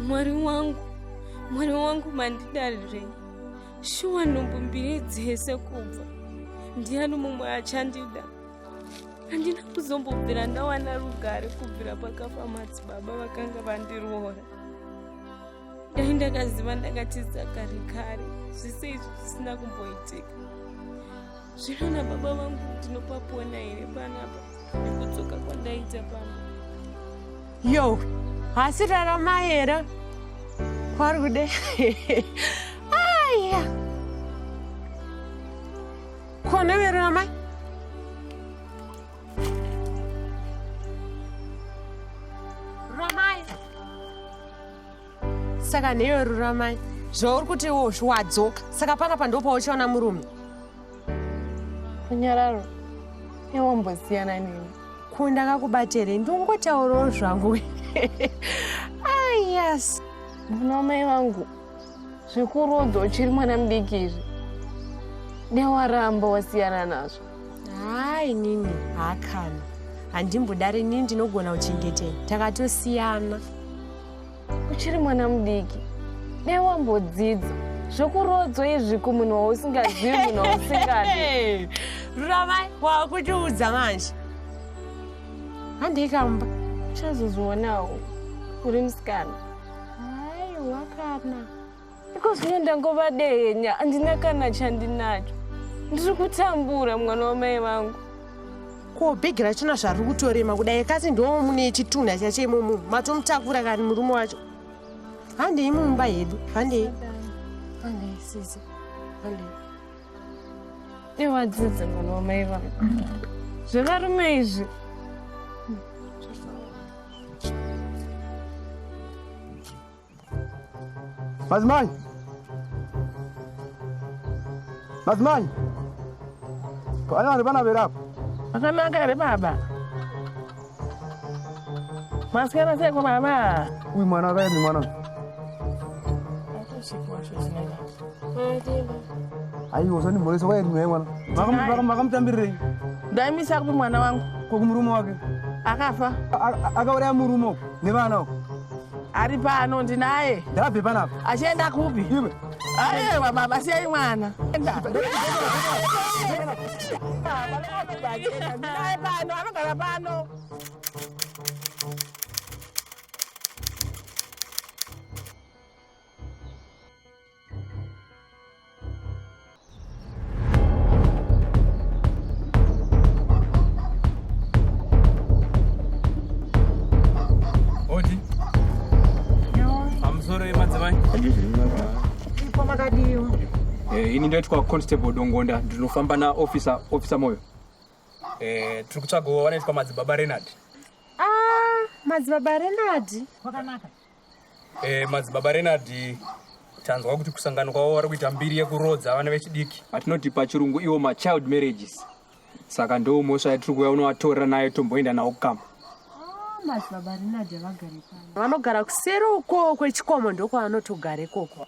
mwari wangu mwari wangu mandidarirei shuwa nhumbu mbiri dzese kubva ndiani mumwe achandida handina kuzombobvira ndawana rugare kubvira pakafa madzibaba vakanga vandiroora dai ndakaziva ndakatiza kare kare zvese izvi zvisina kumboitika Zvinoona baba vangu ndinopapona here panapa nekudzoka kwandaita pano. Yo, hasi rarama here kwari kude aya kona verama saka neyo ruramai zvauri kuti iwo zviwadzoka saka paka pandopauchaona murume kunyararo iwombosiyana nini ko ndakakubatere ndongotaurawo zvangu ah, yes muna amai vangu zvikurodzo uchiri mwana mudiki izvi newaramba wasiyana nazvo haa inini haakana handimbodare nini ndinogona kuchengetei takatosiyana uchiri mwana mudiki dai wambodzidza zvokuroodzwa izvi kumunhu wausingazivi munhu wausingadi ruramai wakutiudza manje handei kamba uchazozvionawo uri musikana aiwa kana Because me ndangova dehenya andina kana chandinacho. Ndiri kutambura mwana wamai vangu. Ko bhegi rachina zvari kutorema kudai kasi ndo mune chitunha chacho imomo matomutakura kani murume wacho. Handei mumba hedu. Handei. Handei sisi. Handei. Iwadzidze mwana wamai vangu. Zvevarume izvi. Madzimai! Madzimai! Pane vanhu vana vere apa? Zvakanaka here baba? Masikana seko baba? Uyu mwana akaenda mwana. Aiwa usani mhoresa waenda mwana mwana. Maka maka mutambirirei? Ndaimisa kupi mwana wangu? Kwa kumurume wake. Akafa. Akauraya murume nevana. Ari pano ndinaye. Ndabve panapa. Achienda kupi? Iwe. Ayewa baba siyai mwana. Enda. Ndinaye pano anogara pano. Eh, ini ndoitwa constable dongonda ndinofamba na officer officer moyo eh, tiri kutsvagawo vanoitwa madzibaba renard ah, madzibaba renard kwakanaka Eh, madzibaba Renard tanzwa kuti kusangano kwavo vari kuita mbiri yekuroodza vana vechidiki atinoti pachirungu iwo machild marriages saka ndoo mhosva yatiri kuuya unovatorera nayo tomboenda nawo kukama ah, madzibaba Renard havagare pano vanogara kuseri ukoo kwechikomo ndokwavanotogare koko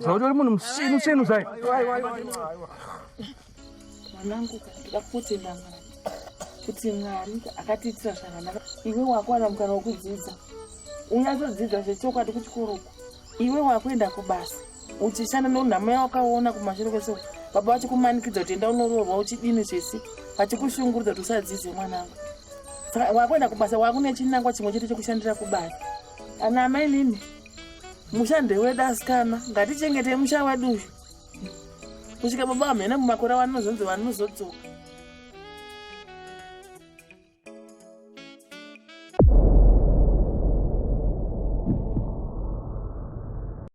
zvautori munhu musinu sinu zai mwanangu ndida kutenda mwari kuti mwari akatiitira zvakanaka iwe wakuwana mukana wekudzidza unyatsodzidza zvechokwadi kuchikoro uku iwe wakuenda kubasa uchishanda nonhamo yawakaona kumashure kwese baba vachikumanikidza kuti enda unoroorwa uchidini zvese vachikushungurudza kuti usadzidze mwanangu saka wakuenda kubasa wakune chinangwa chimwe chete chekushandira kubasa ana amai lini musha ndewedu asikana ngatichengete musha wedu uyu kusvika baba vamhene mumakore vanozonzi vanozodzoka